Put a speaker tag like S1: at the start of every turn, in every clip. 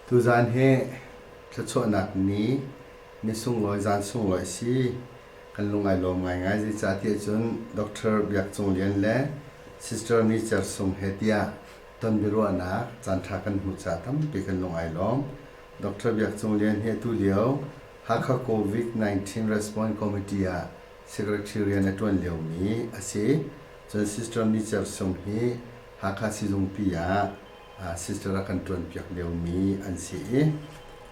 S1: Tuzaan hi thluachuahnak ni, ni sunglawi, zan sunglawi a si. Kan lung ai lawm ngaingai. Zeicahtiah cun Doctor Biak Cung Lian le Sister Micer Sung he tiah tonbiaruahnak caanṭha kan hmuh caah tampi kan lung ai lawm. Doctor Biak Cung Lian hi atu lio Hakha COVID-19 Response Committee ah Secretariat rian a ṭuan liomi a si. Cun Sister Micer Sung hi Hakha sizungpi ah sister a kan ṭuanpiak liomi an si i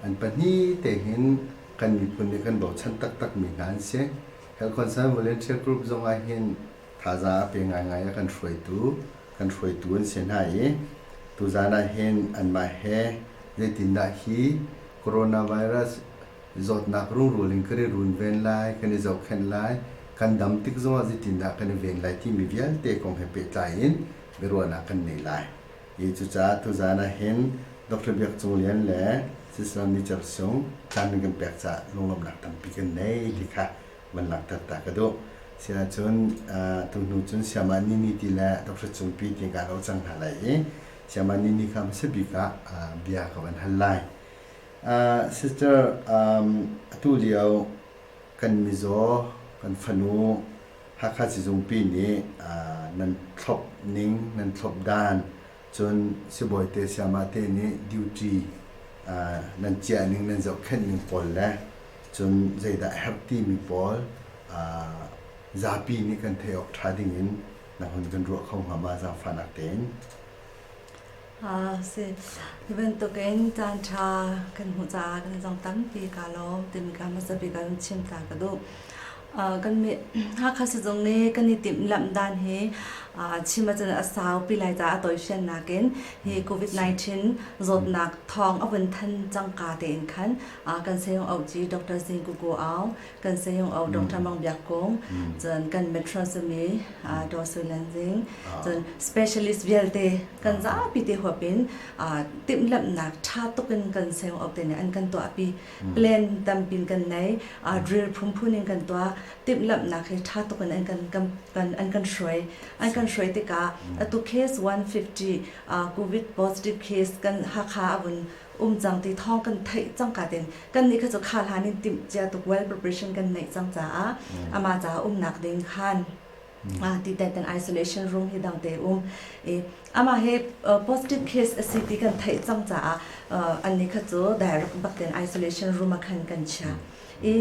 S1: an pahnih te hin kan miphun nih kan bochan taktakmi hna an si. Health Concern Volunteer Group zong ah hin thazaang a pe ngaingai a kan hruaitu kan hruaitu an si hna i tuzaan ah hin anmah he zeitindah hi Coronavirus Zawtnak rungrul in kan i runven lai, kan i zohkhenh lai, kan dam tik zongah zeitindah kan i ven lai timi vialte kong he pehtlai in biaruahnak kan ngei lai. Hi cucaah tuzaan ah hin Doctor Biak Cung Lian le Sisaram Nicer Sung caan nan kan pek caah lunglawmhnak tampi kan nei ti kha van langhter ta ka duh. Siahcun tuhnu cun Siamah Nini ti le Doctor Cung Pi ti kaa ro cang hna lai i Siamah Nini kha hmasa bik ah bia ka van hal lai. Sister, atulio kan mizaw, kan fanu Hakha Sizungpi nih nan thlop ning, nan thlop dan cun sibawite sayamahte nih duty nan ciah ning, nan zohkhenh ning pawl le cun zeidah a herh timi pawl zapi nih kan theih awk ṭha dingin na hun kan ruah kho hnga ma zaangfahnak tein? Ah si. Hi bantukin caanṭha kan hmuh caah kan i dong tampi kaa lawm timi kha hmasabi kan chim ta ka duh. Uh, kan mi Hakha sizung nih kan i timhlamh dan hi uh, chim ahcun a saupi lai caah a toifian nakin hi COVID-19 zawtnak thawng a vun than cangka tein khan uh, kan sayong auci Dr. Zing Kuku Au, kan sayung au dong tha mang biak kong cun kan metros mi do su nan jing cun specialist vialte kan zapi te huapin tim lam nak tha tukin kan sayung au te ne an kan to api plan tampin kan nei drill phum phun in kan to tim lam nak he tha tukin an kan an kan shroi an kan shroi tika atu case 150 covid positive case kan hakha avun um cang ti thawng kan theih cangka tin kan nih kha cu kha hlan in timh cia tuk well preparation kan neih cang caah ama caah umnak ding khan ti teten isolation room hi dang te um i ama he positive case asi ti kan theih cang caah an ni kha cu direct bak ten isolation room a khan kan chia i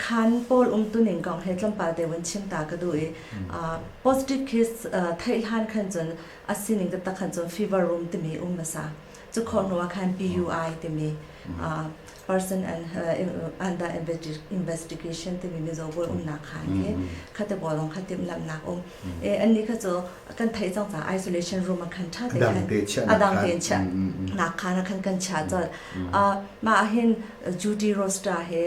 S1: khan paul um tuning kong he tlampal te won chim ta ka du i positive case thei hlan khan cun a sining taktak khan cun fever room timi um hmasa. Cu khawh hnu ah khan PUI timi uh, person and uh, under investigation timi mizaw bual umnak khan hi khate bolong kha timhlamhnak um e an ni kha cu kan thei cang ca isolation room a kan tha te khan adang te chia nak khan a kan kan chia chol ma hin duty roster he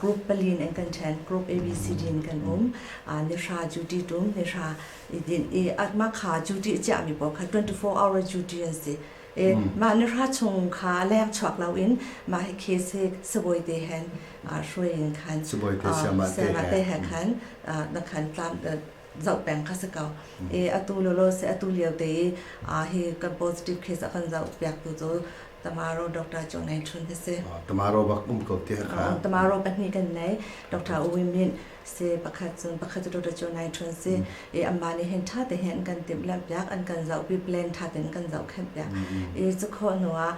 S1: group palin in kan then group abcd in kan um ni sha duty tum ni sha i din i a ma kha duty chiah mi pawl kha 24 hour duty an si i mah ni ra chung kha leng chuak lo in mah hi case hi sabawi te hen hruai in khan sabawi te siama te he khan na khan tlam zoh peng ka saka i atu lo lo se atu lio te i hi kan positive case a kan zoh piak tu cu tomorrow doctor chu ngai chun hese tomorrow bak um ko te kha tomorrow pahnih kan nei doctor u min si pakhat cun pakhat cu tutu cu ngai ṭhun si i amah nih hin ṭha tein an kan timhlamh piak an kan zohpi plan ṭha tein kan zohkhenh piak i cu khawh hnu ah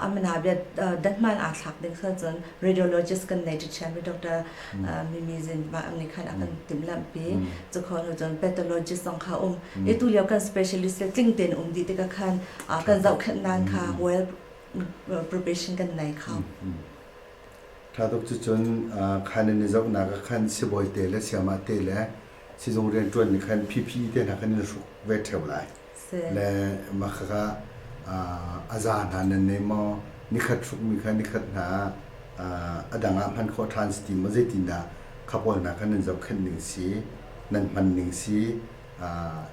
S1: a mana bia datman aa thlak ding sual cun radiologist kan nei ṭi ṭhiammi doctor Mimi Zin mah nih khan a kan timhlamhpi cu khawh hnu cun pathologist zong kha um i tulio kan specialist le tling tein um dih tikah khan kan zohkhenh nan kha well probation kan nei kha Ṭha tuk cucun kha nan i zohnak ah khan sibawi te le sayamah te le sizung rianṭuanmi khan phi te hna khan nan hruk ve ṭheo lai. Le makhaka a za hna nan nei maw? Nikhat hrukmi kha nikhat hna a dang ah hman khawh ṭhan si ti maw? Zeitindah khapawl hna kha nan zohkhenh ning si, nan hman ning si,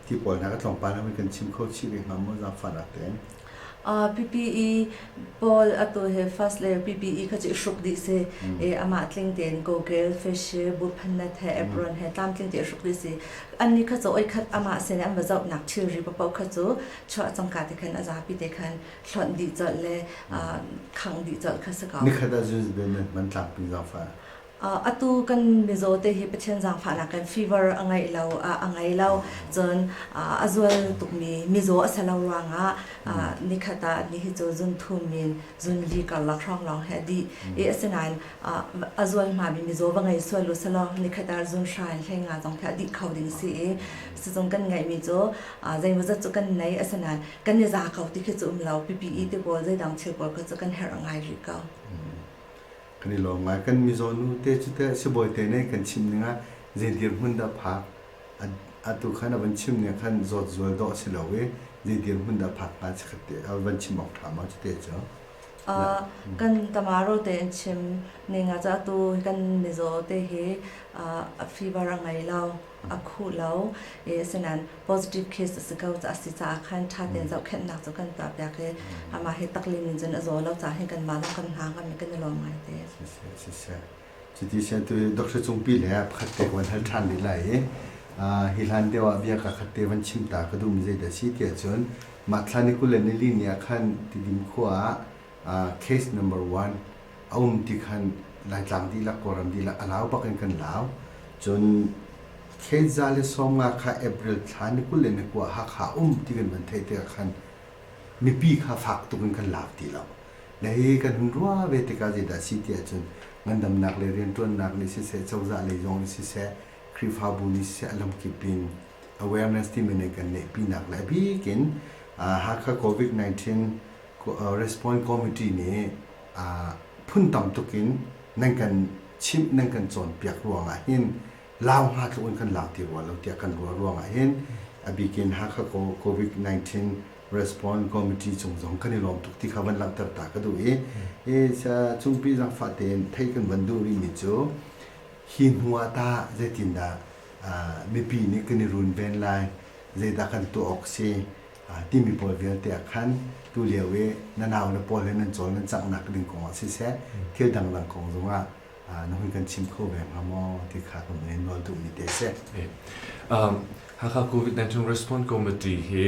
S1: ti pawl hna kha tlawmpal hmanh kan chim kho chih ve hnga maw? Zaangfahnak tein. PPE Paul atu he first layer PPE kha chu i hruk dih si e amah tling tein goggle facial bu phannet he apron he tlam tling te hruk dih si an ni kha cho oi khat amah se ne an bazau nak thil ri papau kha chu chua chongka te khan azapi te khan hlon di chol le khang di chol kha saka ni khat a zul ben man tlang pin zafa Atu kan mizaw te hi Pathian zaangfahnak kan fever a ngeih lo, a ngei lo. Cun a zual tukmi mizaw a si lo ruangah nikhat ah ni hi cu zun thum min zun li karlak hrawnglawng he a dih i asinain a zual hngami mizaw va ngei sual uselaw nikhat ah zun hra in hleng nga zong hi a dih kho ding si i sizung kan ngeihmi cu zeimawzat cu kan nei asinain kan i za ko ti khi cu um lo. Pipi i tipawl zeidang thil pawl kha cu kan herh a ngai rih ko. kan i lawm ngai. Kan mizaw nu te cu teh sibawi te nih kan chim ning ah zei dirhmun dah phak atu khan a van chim ning khan zawt zual dawh a si lo i zei dirhmun dah phak hnga si khat te a van chim awk ṭha ma cu te cu. Kan Tamaro tein chim ning ah cun atu kan mizaw te hi a fibar a ngei lo. a khuh lo i asinain positive case a si ko a si caah khan ṭha tein zohkhenhnak cu kan tuah piak i amah hi taklim in cun a zaw lo caah hin kanmah zong kan hna kan kan i lawm ngai te. Siseh siseh chiti sian tu Dr. Cungpi le pakhat te ka van hal ṭhan lila i hi hlan deuh ah bia kakhat te van chim ta ka duhmi zeidah si tiah cun mah thlan i kulen nili ni ah khan Tidim khua ah Case number one, a um ti khan Laitlang dihlak Kawlram dihlak a lau bak in kan lau. Cun thlenza le sawmnga kha April thla ni kul le ni kua Hakha um ti kan van theih tikah khan mipi kha fak tuk in kan lau ti lo. Le hi kan hun ruah ve tikah zeidah si ti ahcun ngandamnak le rianṭuannak nih siseh, cozah lei zong nih siseh, Khrihfabu nih siseh a lamkip in awareness timi nan kan neihpinak le a bik in Hakha COVID-19 Response Committee nih phun tam tuk in nan kan chimh, nan kan cawnpiak ruangah hin lau hnga tluk in kan lak ti rua lo tiah kan ruah ruangah hin a bikin Hakha COVID-19 Response Committee cung zong kan i lawm tuk ti kha van langhter ta ka duh i cungpi zang fah tein theih kan van duh rihmi cu hi hnu ah tah zeitindah mipi nih kan i runven lai zeidah kan tuah awk si timi pawl vialte ah khan tulio i na naule pawl he nan cawl nan canghnak ding kongah siseh thil dangdang kong zongah na hun kan chim kho ve hnga maw ti kha ka hung in rual duhmi te a si. Hakha COVID-19 Response Committee hi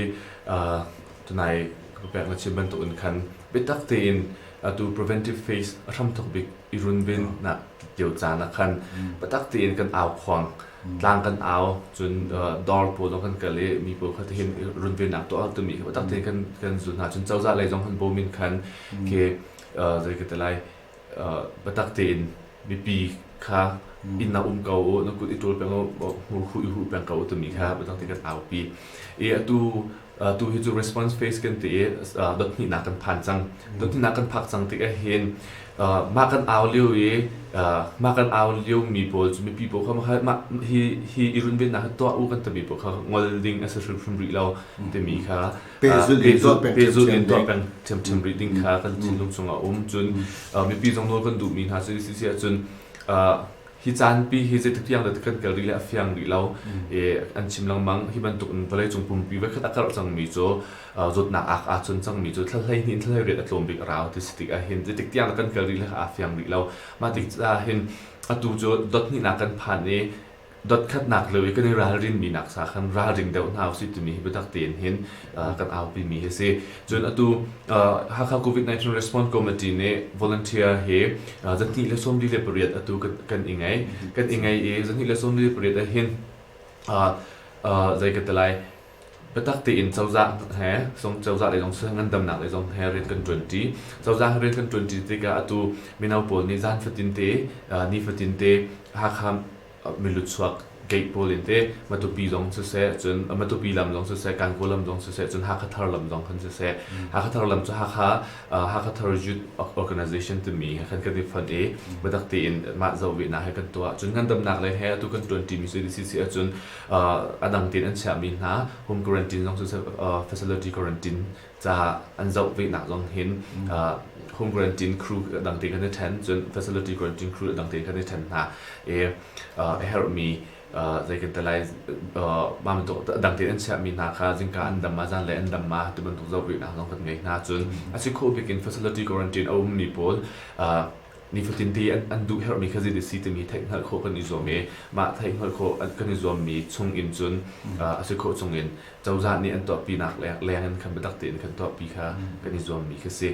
S1: tunai ka pek na chim bantuk in khan biatak tein atu preventive phase a hram tuk bik i runven nak kio caan ah khan biatak tein kan au khuang tlang kan au cun dawr pawl zong kan kal i mi pawl kha tihin runvennak tuah a tummi kha biatak tein kan kan zulh hna cun cozah lei zong han bawm in khan ke zei ka ti lai biatak tein mipi kha inn na um ko u na kut i ṭul peng u hmur khu i huh peng ko u timi kha biatak tein kan aupi i atu tu hi cu response phase kan ti i dothninak kan phan cang dothninak kan phak cang tik ahhin mah kan au lio i mah kan au lio mi pawl cu mipi pawl kha mah hi hi i runvennak hi tuah u kan timi pawl kha ngol ding a si hrimhrim rih lo timi kha pehzulh in tuah peng ṭhiamṭhiam rih ding kha kan thinlung chungah a um cun mipi zong nawl kan duhmi hna cu si ahcun Hi caanpi hi zeitik tiang dah kan kal rih le a fiang rih lo i an chim lengmang. Hi bantuk in vawleicung pumpi voikhat a karh cangmi cu zawtnak ak aa chun cangmi cu thla hleihnih in thla hleiriat a tlawm bik a rau ti si tik ahhin zeitik tiang dah kan kal rih le aa fiang rih lo. Mah tik ahhin atu cu dot hnihnak kan phan i dot khatnak lio i kan i ralrinmi nak sa khan ralring deuh hna usih timi hi biatak tein hin kan aupimi hi si cun atu Hakha COVID-19 Response Committee nih volunteer hi zanhnih le sawmli le pariat atu kan i ngei kan i ngei i zanhnih le sawmli le pariat ah hin zei ka ti lai biatak tein cozah he song cozah le zong ngandamnak le zong he rian kan ṭuanṭi cozah he rian kan ṭuanṭi tikah atu mino pawl nih zan fatin te ni fatin te Hakha miluchuak gate pawl in te Matupi zong siseh cun Matupi lam zong siseh Kankaw lam zong siseh cun Hakha thar lam zong kan siseh Hakha thar lam cu Hakha Hakha thar youth organization timi he khan kan i fon i biatak tein mah zohvihnak he kan tuah cun ngandamnak lei he atu kan ṭuanṭimi CDC si ahcun a dang tein an chiahmi hna home quarantine zong siseh facility quarantine caah an zoh venak zong hin home quarantine crew dangte kan i ṭhen cun facility quarantine crew dangte kan i ṭhen hna i a herhmi zei kan ti lai mah bantuk dangte an chiahmi hna kha zingka an dam ma zan le an dam ma ti bantuk zoh venak zong kan ngei hna cun a si khawh bik in facility quarantine a ummi pawl nifatinte an duh herhmi kha zit si timi theih hngalh khawh kan i zuam i mah theih hngalh khawh kan i zuammi chung in cun a si khawh chung in cozah nih an tuahpinak leng in khan biatak tein kan tuahpi kha kan i zuammi khi si.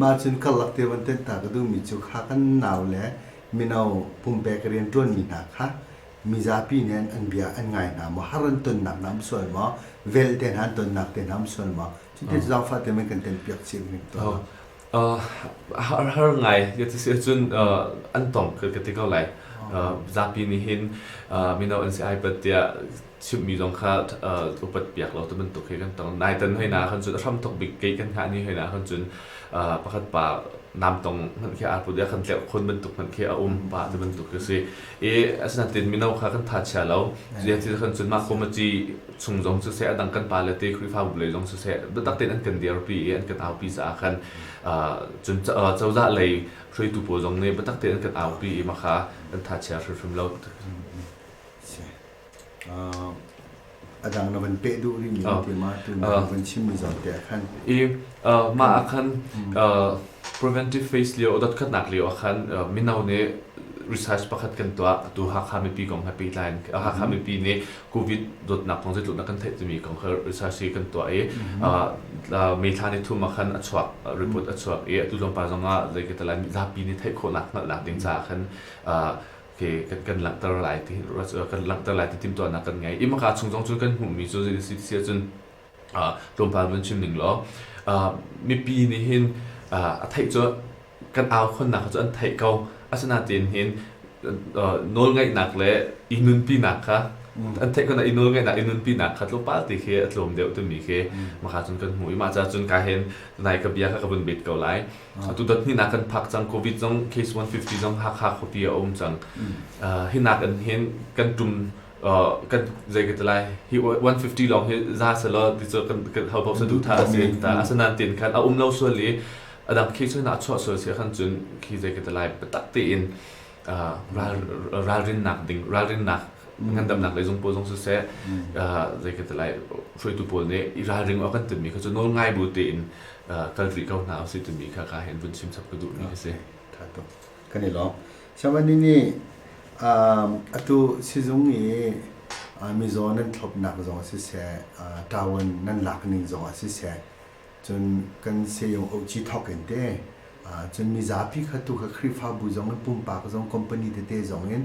S1: Mah cun karlak tevanten ta ka duhmi cu kha kan nau le mino pumpek rian ṭuanmi hna kha mizapi nih an bia an ngai hna maw, har an tonnak hna an sual maw, vel te hna an tonnak te hna an sual maw, cutin cu zaangfah te men kan telpiak chih hrim tawn. Har ngai ka ti si ahcun an tong ka ti ko lai. Zapi nih hin mino an si ai pat tiah chimhmi zong kha upat piak lo ti bantuk khi kan tong. Naiten hoina ahkhan cun a hram tuk bik kei kan hngah ni hoina ahkhan cun pakhat pa namtong hmanh khi aa put i a kan tleuh khun bantuk hmanh khi a um pa ti bantuk khi si. I asinain mino kha kan tha chia lo. Cuti ti khan cun mah kum a ci chung zong cu seh a dang kan pa le te Khrihfabu lei zong cu seh biatak tein an kan dirpi i an kan aupi caah khan cun cozah lei hruaitu pawl zong nih biatak tein an kan aupi i mah kha kan tha chia hrimhrim lo. a dang na van peh duh rih mi ah tiam ah tuna van chimmi zawn te ah khan i mah ah khan preventive phase lio dot khatnak lio ah khan mino nih research pakhat kan tuah tu Hakha mipi kong he pehtlai in Hakha mipi nih covid dawtnak kong zeitluk na kan theih timi kong kha research hi kan tuah i meithla ni thum ah khan a chuak report a chuak i atu lawngpa zong ah zei ka talai lapi nih theih khawhnak hngalhnak ding caah khan te kan kan langhter lai ti kan langhter lai ti timhtuahnak kan ngei i maka chung zong cu kan hmuhmi cu zai si si ahcun tlawmpal van chim ning law mipi nih hin a theih cu kan au khonnak cu an theih ko asinain hin nawlngaihnak le i nunpinak kha an theih kona i nawlngaihnak i nunpinak kha tlawmpal ti khi a tlawm deuh timi khi maka cun kan hmuh i mah cah cun ka hen nai ka bia kha ka vun bet ko lai Atutan hinak kan phak cang Covid zong case 150 zong Hakha khuapi ah a um cang. Hinak in hin kan tum kan zei ka ti lai hi 150 lawng hi za selaw ti cu kan kan hau bau sa duh tha a si ta asanain tin khan a um lo sual i adang khi soi na chuah sual si khan cun khi zei ka ti lai biatak tein ralrin nak ding ralrin nak ngandam nak le zung pawl zong siseh zei ka ti lai hruaitu pawl nih i ralring awk kan timmi kha cu nawl ngai bu tein kal rih ko hna usih timi kha ka hin vun chim chap ka duhmi ka si. Kan i lawm. Chairman nih atu sizung i mizaw nan thlopnak zong siseh, tawan nan lakning zong siseh, cun kan sayung oci thawk in te, cun mizapi kha tu kha Khrihfabu zong in pumpak zong company tete zong in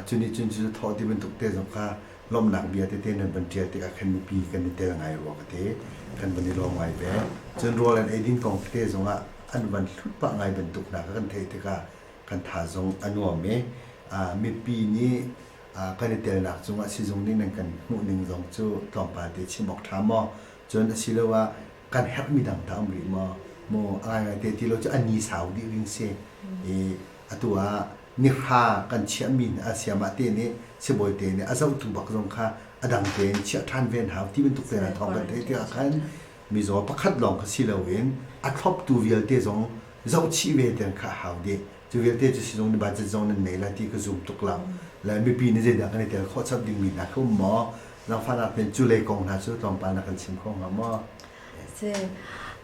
S1: cun i cun cu thawh ti bantuk te zong kha lawmhnak bia tete nan van ṭial tikah khan mipi kan i tel ngai rua ka ti. Kan van i lawm ngai ve. Cun rawl an ei ding kong tete zongah an van hlut pah ngai bantuk hna kha kan theih tikah kan tha zong a nuam i mipi nih kan i telnak cungah sizung nih nan kan hmuhning zong cu tlawmpal te chim awk ṭha maw? Cun asiloah kan herhmi dang dah a um rih maw? Maw a ngaingai te ti lo cu an ni sau dih ding si i atu ah Nihra kan chiahmi nih a siamah te nih sibawi te nih a zohtu bak zong kha a dang tein chiah ṭhan ve hna ti bantuk tein thawng kan theih tikah khan mizaw pakhat lawng kha si loin a thloptu vialte zong zohchih ve tiang kha a hau dih. Cu vialte cu sizung nih budget zong nan ngei la ti ka zum tuk lo. Le mipi nih zeidah kan i tel khawh chap dingmi hna kha um maw, zangfahnak nih cu lei kong hna cu tlawmpal na kan chim kho hnga maw? a si.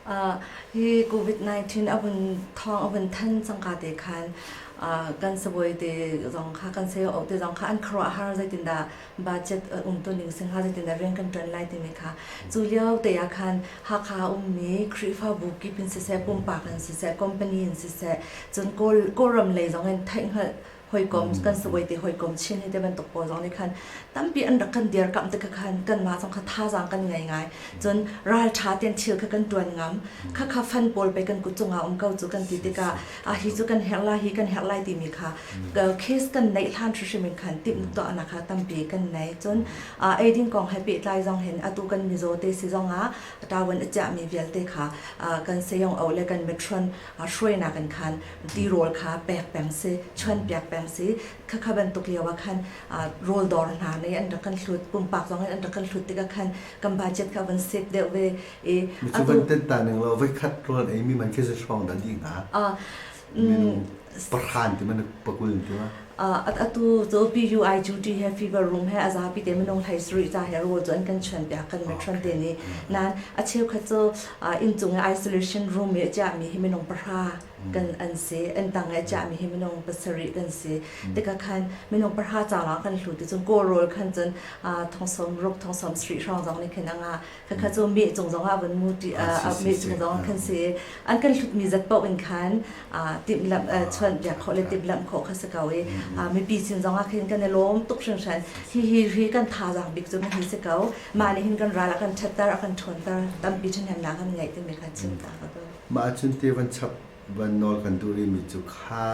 S1: Uh, hi COVID-19 a vun thawng a vun than cangka te khan uh, kan saboy te zong kha kan sayo au te zong kha an kharwa har zeitin da budget uh, um tu ning sing ha zeitin da rank kan tan lai ti me kha chu liao te ya khan hakha um mi khrifa bu ki pin se se pumpa kan se se company in se se chun kol koram lei zong in thai hal hawikom mm. kan siwai te hawikom chin hi te bantuk pawl zong nih khan tampi an rak kan dirkamh te khan kan ma zong kha thazaang kan ngei ngai cun ral tha ten thil kha kan tuan ngam kha kha fan pawl pe kan kuchunga um ko chu kan ti tikah a hi chu kan herla hi kan herlai timi kha case kan nei hlan hrimin khan tip to ana kha tampi kan nei cun eidin kong happy tlai zong hen atu kan mizo te si zong a tawan acha mi vialte kha kan seyong au le kan metron hruaina kan khan tirawl kha pek peng si, chuanpiak peng si. Khakha bantuk lio ah khan rawl dawr hna nih an rak kan hlut, pumpak zong in an rak kan hlut tikah khan kan budget kha a van save deuh ve i Cu bantuk ta ning lo voikhat rawl eimi man khi zei hrawng dah ni hnga? minung parhan ti man pakul in ti ma? atu cu PUI duty he fever room he a zapi te minung hlei sarih ca he rawl cu an kan chuan piak kan ṭhuan te ni nan a cheukhat cu inncung i isolation room i chiahmi hi minung pahra kan an si an tang i chiahmi hi minung pasarih kan si tikah khan minung pahra ca lawng kan hlu ti cun kawl rawl khan cun thongsawm ruk thongsawm sri hrang zong nih khin anga khakha cu meh cung zong ah vun mu ṭi meh cung zong kan si an kan hlutmi zat paoh in khan timhlamh chuan biak khawh le timhlamh khawh kha si ko i mipi sin zong ah khin kan i lawm tuk hringhran hi hi hi kan thazaang bik cu hi si ko mah nih hin kan ral a kan ṭhatter a kan ṭhawnter tampi ṭhahnemnak an ngeih timi kha chim ta ka tum mah cun te van chap van nawl kan duh rihmi cu kha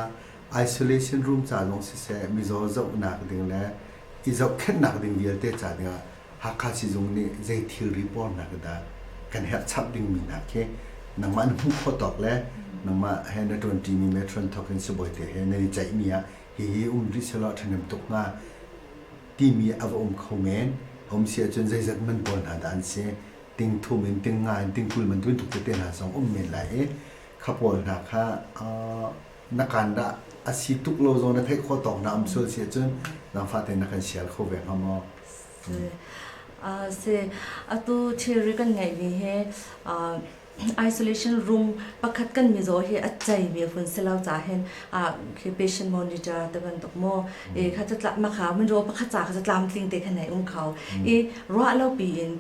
S1: isolation room ca lawng siseh mizaw zohnak ding le i zohkhenhnak ding vialte ca ding ah Hakha Sizung nih zei thilri pornak dah kan herh chap dingmi hna khi nangmah na hmuh khawh tawk le nangmah he na ṭuanṭimi matron thawk in sibawi te he nan i ceihmi ah hihi um rih sehlaw a ṭhahnem tuk hnga timi a va um kho men. A um si ahcun zeizat man pawl hna dah an si, ting thum in ting nga in ting kul bantukin tuk tete hna zong um men lai i kha pawl hna kha na kaan dah a si tuk lo zong na theih khawh tawk na um sual si ahcun zangfah tein na kan sial kho ve hnga maw? Atu thilri kan ngeihmi hi isolation room pakhat kan mizaw hi a ceimi hun si lo cahin patient monitor te bantuk maw kha catlap makha minraw pakhat ca kha catlam tling te khan ai um kho i ruah lo piin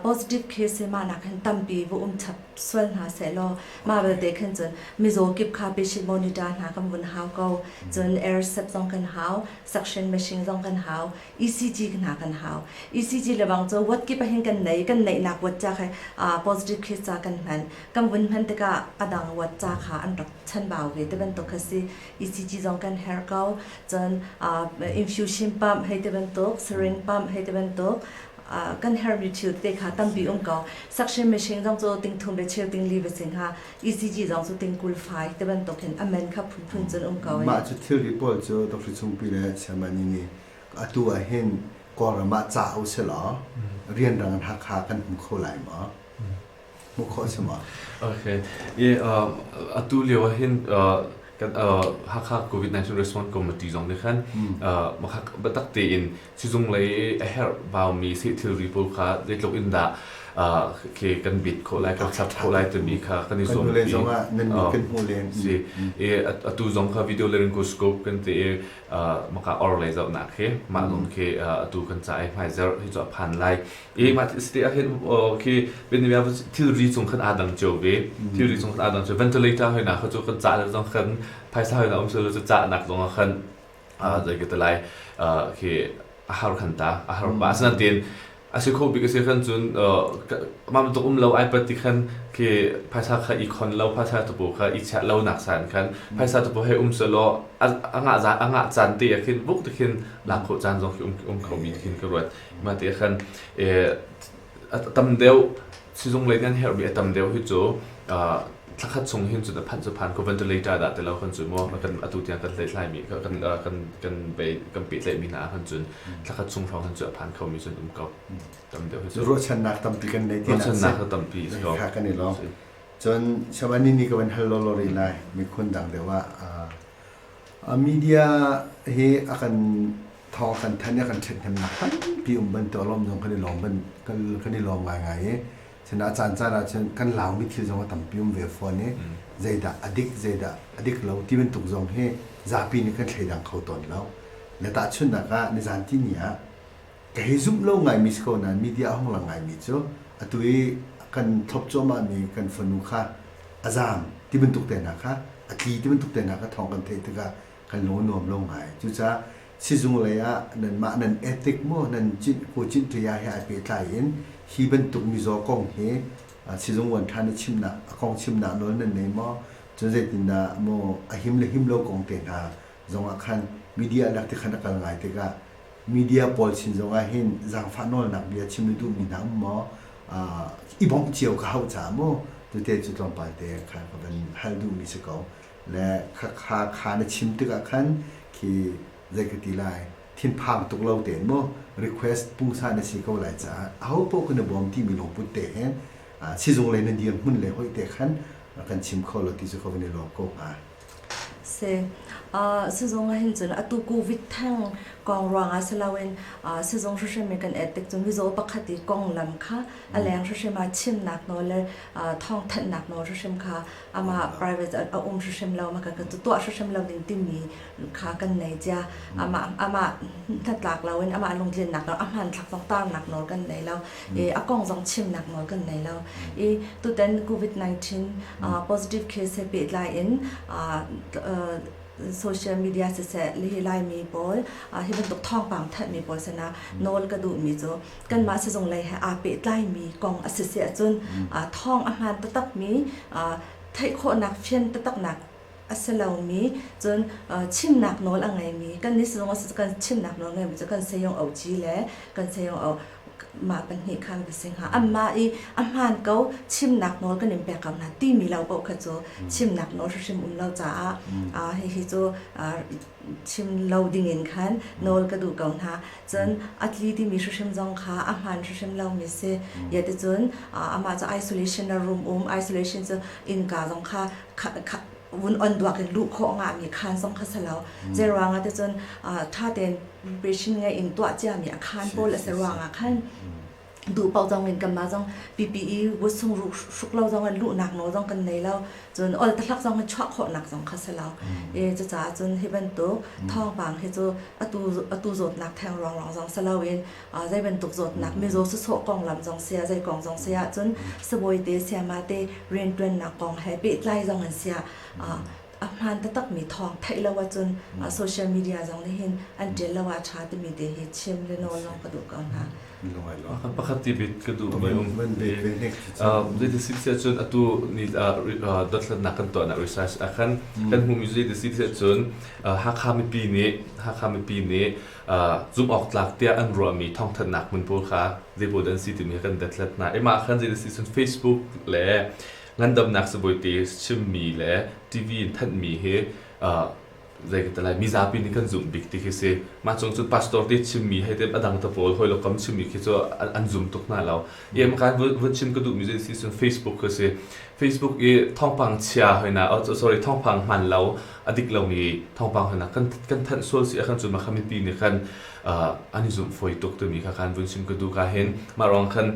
S1: positive case hi mahnak khan tampi va um chap sual hna sehlaw mah belte khan cun mizaw kip kha patient monitor hna kan vun hau ko cun air sep zong kan hau suction machine zong kan hau ECG hna kan hau. ECG le bang cu wat kip ahin kan nei, kan neihnak wat ca kha positive case ca kan hman. Kan vun hman tikah adang wat ca kha an rak chanbau ve te bantuk kha si. ECG zong kan herh ko. Cun infusion pump hei te bantuk, syringe pump hei te bantuk, kan herhmi thil te kha tampi um ko. Suction machine zong cu tingthum le chilting li va si hnga, ECG zong cu tingkul fai tibantuk in a men kha phunphun cun um ko. Mah cu thilri pawl cu Doctor Chungpi le Chairman nih atu ah hin Kawlram ah ca usihlaw rianrang in Hakha kan hmu kho lai maw? Hmuh khawh a si maw? Okay. Atu lio ah hin kan Hakha COVID-19 Response Committee zong nih khan biatak tein Cizunglei a herh vaumi thilri pawl kha zeitluk in dah khi kan bit khawh lai, kan chap khawh lai timi kha kan i zuam pi. kan hmuh len. Si. Atu zong kha video laryngoscope kan te i maka or lei zoh nak khi mah lawng khi atu kan ca ai hmai zer hi cu a phan lai. I mah site ah hin khi benivia thilri cung khan aa dang cio ve. Thilri cung khan aa dang cio. Ventilator hoi na kha cu kan ca zong khan phaisa hoi na um cio cu ca nak zong khan zei ka ti lai khi a har khan ta a har pa asana tin a si kho bik a si khan cun mam tuk um lo ai pat ti khan khi phaisa kha i khon lo phaisa tupu kha i chiah lo nak san khan phaisa tupu he um se law a ngah za a ngah chan te khin buk te khin lakho chan zong khi um um kho mi khin ka ruat ma te khan a tam deuh sizung lei nan herhmi a tam deuh hi cu uh, thlakhat chung hin cun a phan cu phan ko ventilator dah te lo kan cun mu kan atu tiang kan hlei thlai mi kan kan kan bei kan pe tlai mi hna kan cun thlakhat chung hrawng hin cu a phan kho mi cun um ko tam deuh hi cu ruahchannak tampi kan nei tinak ruahchannak tampi si ko kan i lo cun shaban ni ni ka van hal lo lo ri lai mi khun dang deuh ah Media hi a kan thawng a kan thanh i a kan ṭhathnemnak tampi um bantuk a lawm zong kan i lawm kan i lawm ngaingai i sinah a caancaan ahcun kan Laumi thil zong a tampi um ve fawn i zeidah a dik zeidah a dik lo ti bantuk zong hi zapi nih kan thleidang kho tawn lo. Le tahchunhnak ah nizaan tihni ah Ka hi zumh lo ngaimi si ko nain media a hung lang ngaimi cu atu i kan thlop cuahmahmi kan fanu kha a zaam ti bantuk te hna kha a tli ti bantuk te hna kha thawng kan theih tikah kan lung a nuam lo ngai. Cucaah sizung lei ah nanmah nan ethic maw nan cinh Kaw Cinh Ṭhaya he ai pehtlai in hi bantuk mizaw kong hi sizung uan ṭhan i chimnak a kong chimnak nawl nan nei maw cun zeitindah maw a him le him lo kong te hna zongah khan media lak ti khan a kal ngai tikah media pawl sin zongah hin zaangfah nawlnak bia chim na duhmi hna um maw i bawmh cio ka hau caah mu tete cu tlawmpal te kha ka van hal duhmi si ko le kha kha kha na chim tikah khan khi zei ka ti lai thinphang tuk lo te mu request pungsa na si ko lai caah a ho poh kan bawm timi lungput te hen sizung le na dir hmun le hoi te khan kan chim kho lo ti cu ka van i lawm ko hnga Si. Uh, sizung ah hin cun atu COVID thang kong ruangah si loin uh, sizung hrimhrim in kan et tik cun mizaw pakhat i konglam kha a leng hrimhrim a chimnak nawl le uh, thawngthanhnak nawl hrimhrim kha ama private a, a um hrimhrim lo ma kan kan tuah hrimhrim lo ding timi kha kan nei tia ama ama hnatlak loin ama lungtlinnak nawl a hmanthlak tong tarnak nawl kan nei lo i a kong zong chimnak nawl kan nei lo. I tutan COVID-19 positive case he pehtlai in social media siseh hi laimi pawl hi bantuk thawngpang thanhmi pawl sinah nawl ka duhmi cu kanmah sizung lei he aa pehtlaimi kong a si si ahcun thawng a hmaan taktakmi theih khawhnak fian taktaknak a si lomi, cun chimnak nawl a ngeimi, kan nih zong kan chimnak nawl ngeimi cu kan sayung Aung Ci le kan sayung Aung mah pahnih kha an va si hnga. Anmah i a hmaan ko chimnak nawl kan in pek ko hna timi lo paoh kha cu chimnak nawl hrim um lo caah hihi cu chim lo ding in khan nawl ka duh ko hna. Cun a tli timi hrim zong kha a hmaan hrim lomi si. Yeticun amah cu isolation a room um, isolation cu innka zong kha vun on duak in luh khawh nga mi khaan zong kha sa lo zei ruangah te cun ṭha tein preparation ngai in tuah cia mi a khaan pawl a si ruangah khan duh paoh zong in kanmah zong PPE wutsung ruk hruk lo zong in luhnak nawl zong kan nei lo cun ol tahlak zong in chuah khawhnak zong kha si lo e cucaah cun hi bantuk thawngpang hi cu atu atu zawtnak theng ruang ruang zong si lo in Zei bantuk zawtnak mizaw sawsawh konglam zong sia, zei kong zong sia ahcun sabawite siamate rianṭuannak kong he pehtlai zong an sia. A hmaan taktakmi thawng theih lo ahcun social media zong nih hin an ṭial lo ah a ṭha timi te hi chim le nawl zong ka duh ko hna. Pakhat tibit ka duh ve um. Zeiti si ti ahcun atu ni dothlatnak kan tuahnak research ah khan kan hmumi zeiti si ti ahcun Hakha mipi nih Hakha mipi nih zumhawktlak tiah an ruahmi thawngthanhnak hmun pawl kha zeipawl dah an si timi kha kan dothlat hna. Ih mah khan zeidah si cun Facebook le ngandamnak sibawite chimmi le TV in thanhmi hi zei ka lai mizapi nih kan zumh bik ti khi si. Mah cung cun pastor te chimmi hei tem a dang ta pawl hawilok kam chimmi khi cu an zum tuk hna lo. Ie makan vun chim ka duhmi zei si cun Facebook khi si. Facebook i thawngpang chia hoi na, oh, sorry, thawngpang hman lo a dik lomi thawngpang hna kan kan thanh sual si ahkhan cu makha mipi nih khan an i zumh fawi tuk timi kha kan vun sim ka duh ka hin mah ruang khan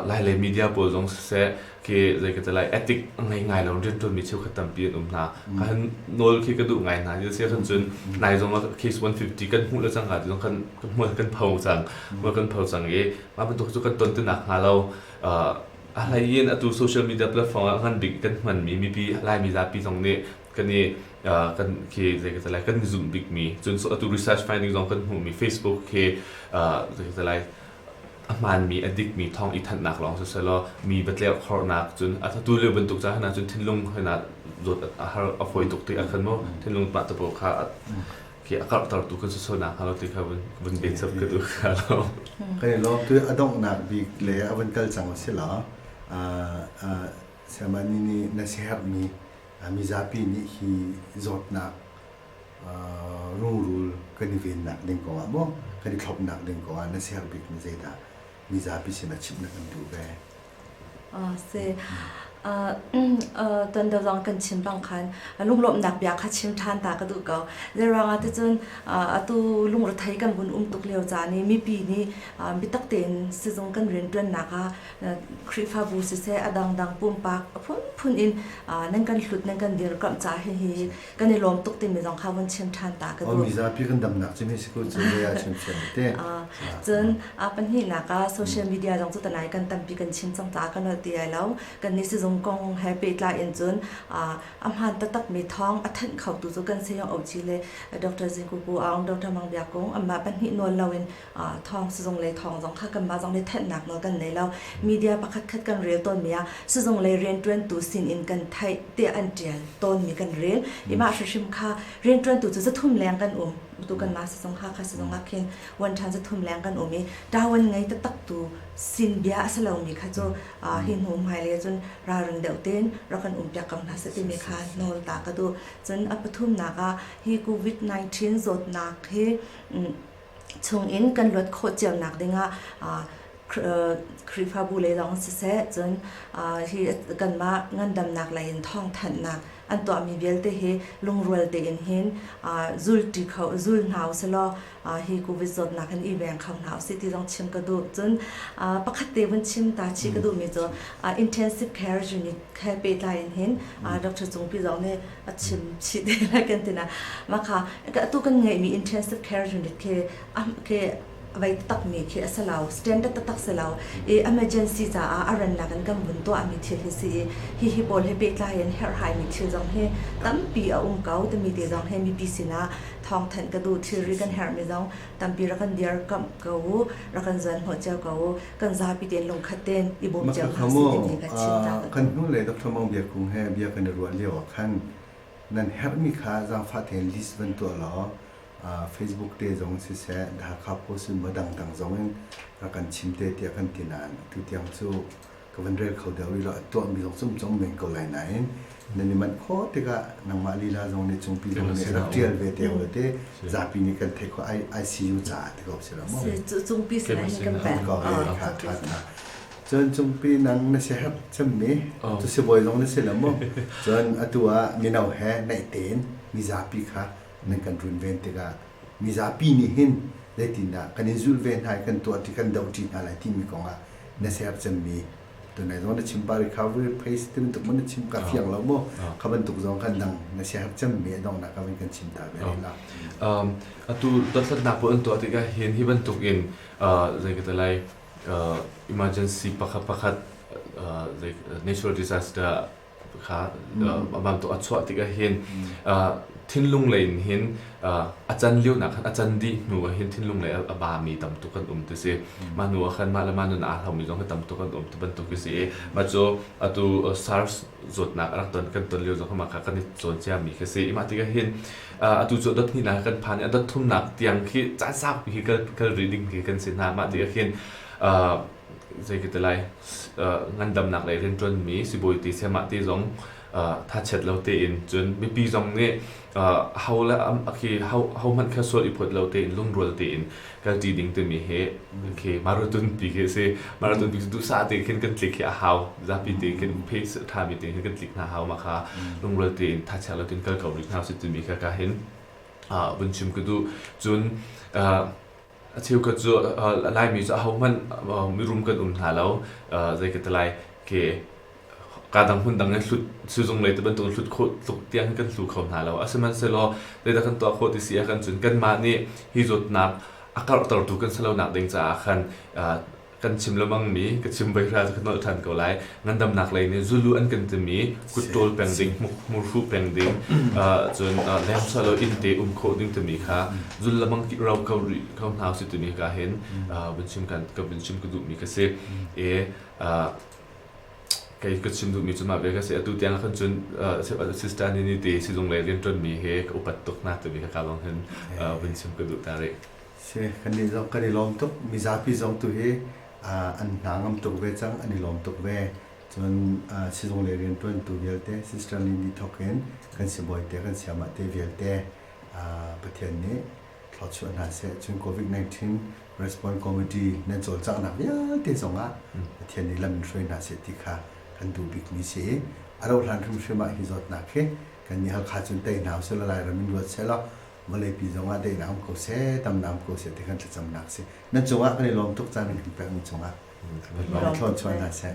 S1: lai le media pawl zong siseh ke zei ka lai ethic ngai ngai lo riantuanmi cheukhat tampi an um hna ka han nawl khi ka duh ngai hna i si ahkhan cun nai zong case 150 kan hmuh le cang ka zong kan kan pho cang mual kan pho cang i mah bantuk cu kan ton tinak hnga lo a hlai in atu social media platform ah ngan bik kan hmanmi mipi laimi zapi zong nih kan i kan khi zei ka lai kan zumh bikmi cun atu research finding zong kan hmuhmi Facebook khi zei ka lai a hmaanmi a dikmi thawng i thanhnak lawng sosialaw mi batleu khornak cun a tu lio bantuk ca hna cun thinlung hena zawt a har a phoi tuk ti a khan mo thinlung pah tapo kha khi a karhter tu kan sosonak halo ti kha vun bet sab ka du kha lo kan i lom tu a donghnak bik le a van kal cang si la a samani ni na seher mi mizapi nih hi zawtnak rungrul kan i vennak ding kongah maw kan i thlopnak ding kongah na ser bikmi zeidah mizapi sin a chimh na kan duh ve? Ah si. Ah ton dawt zong kan chim bang khan lunglawmhnak bia kha chim ṭhan ta ka duh ko. Zeiruangah ticun atu lungrethei kan vun um tuk lio caan i mipi nih biatak tein sizung kan rianṭuannak ah Khrihfabu siseh, a dangdang pumpak phunphun in nan kan hlut, nan kan dirkamh ca hi hi kan i lawm tuk timi zong kha vun chim ṭhan ta ka duh. Mizapi kan damnak cu si ku cun zei ah chimthiam te. Cun pahnihnak ah social media zong cu tanai kan tampi kan chim cang ta kan ti ai lo. Kan nih sizung kong he pehtlai in cun a hmaan taktakmi thawng a thanh khotu cu kan sayung Auci le Dr. Zing Kuku Aung, Dr. Mang Biak Kung anmah pahnih nawl loin thawng sizung le thawng zong kha kanmah zong nih thanhnak nawl kan nei lo media pakhatkhat kan rel tawnmi ah sizung le rianṭuantu sin in kan theih tiah an ṭial tawnmi kan rel i mah hrihrim kha rianṭuantu cu zathum leng kan um tu kanmah sizung kha kha sizung ah khin wan ṭhan zathum leng kan um i ṭawan ngei taktak tu sin bia a si lomi kha cu hi hnu hmailei cun ralring deuh tein rak kan umpiak ko hna seh timi kha nawl ta ka duh cun a pathumnak ah hi covid-19 zawtnak hi chungin kan luat khawh cionak dingah Khrihfabu lei lawng siseh cun hi kanmah ngandamnak lei in thawngthanhnak an tuahmi vialte hi lungrual tein hin zulṭi kho zul hna usilaw hi covid zawtnak hin i veng kho hna usih ti zong chim ka duh cun pakhat te vun chim ta chi ka duhmi cu intensive care unit he pehtlai in hin Dr. Cungpi zong nih a chim chih te lai kan tina ma kha tu kan ngai mi intensive care unit ke am ke vai tak mi khi asalau standard tak salau e emergency za a aran la kan kan bun to ami thil hi si hi hi pol he pe tlai en her hai mi thil jong he tampi a um kau te mi te jong he mi pisina thong than ka du thil ri kan her mi jong tampi rakan diar kam kau rakan zan ho cheu kau kan zapi tein lungkhat tein i bawm cio hna si timi ka chimnak. Kan hnu le Dr. Mang Bia Kung he bia kan i ruah lio ah khan nan herhmi kha zaangfah tein list van tuah law Facebook te zong siseh Hakha Post in maw dangdang zong in a kan chim te tiah kan ti nain atu tiang cu ka van rel kho deuh rih lo a tuahmi zong cumcong men ko lai nain nan i manh khawh tikah nangmah lila zong nih cungpi zong nih rak ṭial ve te hau ti zapi nih kan theih khawh ICU caah ti ko si lo mu cungpi selain kan pek ko ṭha ṭha cun cungpi nang na si hap cemmi cu si bawi zong na si lo mu cun atu ah mino he naih tein mizapi kha nan kan run ven tikah mizapi nih hin zeitindah kan in zulh ve hna i kan tuah ti kan doh ṭi hna lai timi kongah na sercemmi tunai zong na chim pari kha vui phei si bantuk maw na chim ka fiang lo maw kha bantuk zong kan dang na sia hak cem me dong na ka vin kan chim ta be la um atu dosat na ko an to atika hin hi bantuk in zai ka talai emergency pakhat pakhat natural disaster a bantuk a chuah tik ah hin thinlung lei in hin a can lio nak khan a can dih hnu ah hin thinlung lei a ba mi tam tuk kan um ti si mah hnu ah khan mah le mah nun aa hlau mi zong hi tam tuk kan um ti bantuk hi si i mah cu atu SARS zawtnak a rak ton kan ton lio zong mah kha kan i cawn cia mi khi si mah tik ah hin atu cu dot hni nak kan phan i a dot thum nak tiang khi caan sau pi hi kal kal rih ding khi kan si hna mah ti ah hin zei ka ti lai uh, ngandamnak lei rianṭuanmi sibawi te semah te zong uh, thachet lo tein cun mipi zong nih uh, ho le khi ho ho hmanh kha sual i phot lo tein lungrual tein kan ṭi ding timi hi khi marathon ti khi si marathon ti duhsa te khin kan tlik hi a hau zapi te khin phe ṭhami te khin kan tlik hna hau ma kha lungrual tein thachet lo tin kal ko rih hna si timi kha ka hin uh, vun chim ka du cun uh, A cheukhat cu a Laimi cu ahohmanh mirum kan um hna lo. Zei ka ti lai ke kaa dang hmun dang in hlut sizung lei ti bantuk hlut khawh tluk tiang hin kan hlu kho hna lo. A sihmanhsehlaw zeidah kan tuah khawh ti si ah kan cun kanmah nih hi zawtnak a karhtertu kan si lonak ding caah khan kan chim lebang mi ka chim voi hral ka nolh than ko lai ngandamnak lei nih zulu an kan timi kutṭawl peng ding murhu peng ding cun lem salo innte um khawh ding timi kha zul lamang ki ro ko rih ko hna si timi ka hin vun chim kan ka vun chim ka duh mi ka si e kei ka chim duh mi cu ma ve ka si atu tiang khan cun assistant ni te silung le rian ṭon mi he ka upat tuk na timi ka ka bang hin vun chim ka duh ta rih Si, kan i kan i lawm tuk. Mizapi zong tu hi an hna ngam tuk ve cang, an i lawm tuk ve. Cun sizung le rianṭuantu vialte Sister nih nih thawk in kan sibawi te, kan siamah te vialte Pathian nih thlawchuah hna seh. Cun COVID-19 Response Committee nan cawlcanghnak vialte zongah Pathian nih lam in hruai hna seh ti kha kan duh bikmi si i a rauhhlan hrimhrim ah hi zawtnak hi kan nih Halkha cun tei hna usih law Lairam in ruat sehlaw vawleipi zongah dei na hong ko seh, tam na hong ko seh ti kan thlacamnak a si. Nan cungah kan i lawm tuk caan kan pekmi cungah lawng thlawn chuah hna seh.